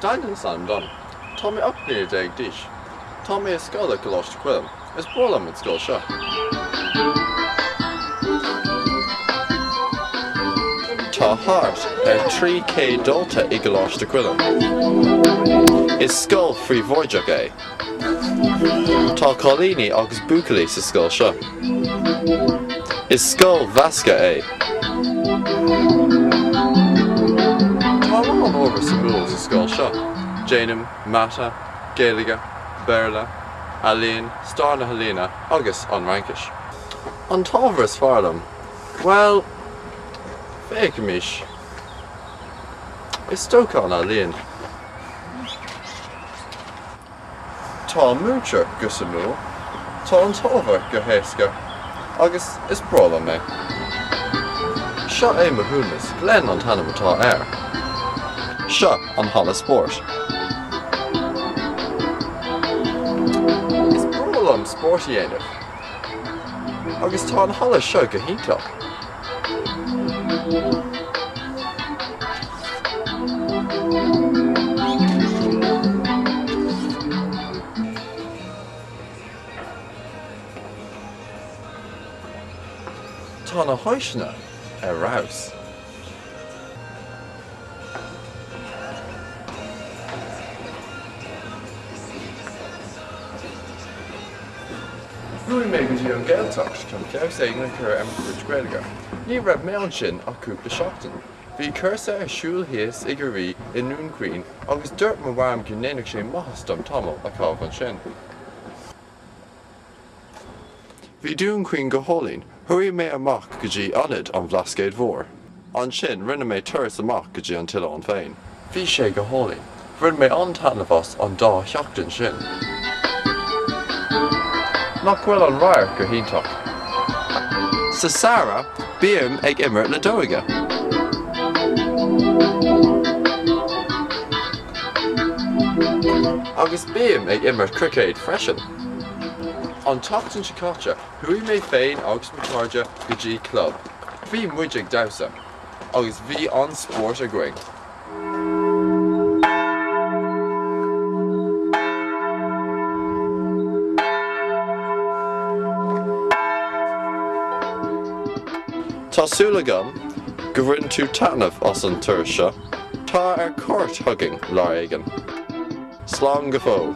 Dan an t-ainm dom. Tá mé ocht mbliana déag d'aois. Tá mé i scoil i gColáiste Choilm. Is breá liom an scoil seo. Tá thart ar 300 dalta i gColáiste Choilm. Is scoil phríobháideach í. Tá cailíní agus buachaillí sa scoil seo. Is scoil mheasctha í. Tá a lán ábhar suimiúil sa scoil seo, déanaim Mata, Gaeilge, Béarla, Ealaín, Stair na hEalaíona agus an Fhraincis. An t-ábhar is fearr liom? Bhuel, féachaimis. Is dócha an Ealaín. Tá na múinteoirí go suimiúil, tá an t-ábhar go héasca, agus is breá liom é. Seo é mo chúntóir. Glen an t-ainm atá air. Seo an halla spóirt. Is breá liom spórt a dhéanamh, agus tá an halla seo go hiontach. Tá na háiseanna ar fheabhas. Chuaigh mé go dtí an Ghaeltacht chun feabhas éigin a chur ar mo chuid Gaeilge. Ní raibh mé ansin ach cúpla seachtain. Bhí cúrsa ar siúl thíos i gCiarraí i nDún Chaoin agus dúirt mo mham go ndéanfadh sé maitheas dom tamall a chaitheamh ansin. Bhí Dún Chaoin go hálainn. Chuaigh mé amach go dtí Ionad an Bhlascaoid Mhóir. Ansin, rinne mé turas amach go dtí an t-oileán féin. Bhí sé go hálainn. Bhain mé an-taitneamh as an dá sheachtain sin. Nach bhfuil an radharc go hiontach? Sa samhradh, bím ag imirt leadóige. Agus bím ag imirt cruicéid freisin. An tseachtain seo caite, chuaigh mé féin agus mo chairde go dtí club. Bhí muid ag damhsa agus bhí an-spórt againn. Tá súil agam go mbaineann tú taitneamh as an turas seo. Tar ar cuairt chugainn lá éigin! Slán go fóill!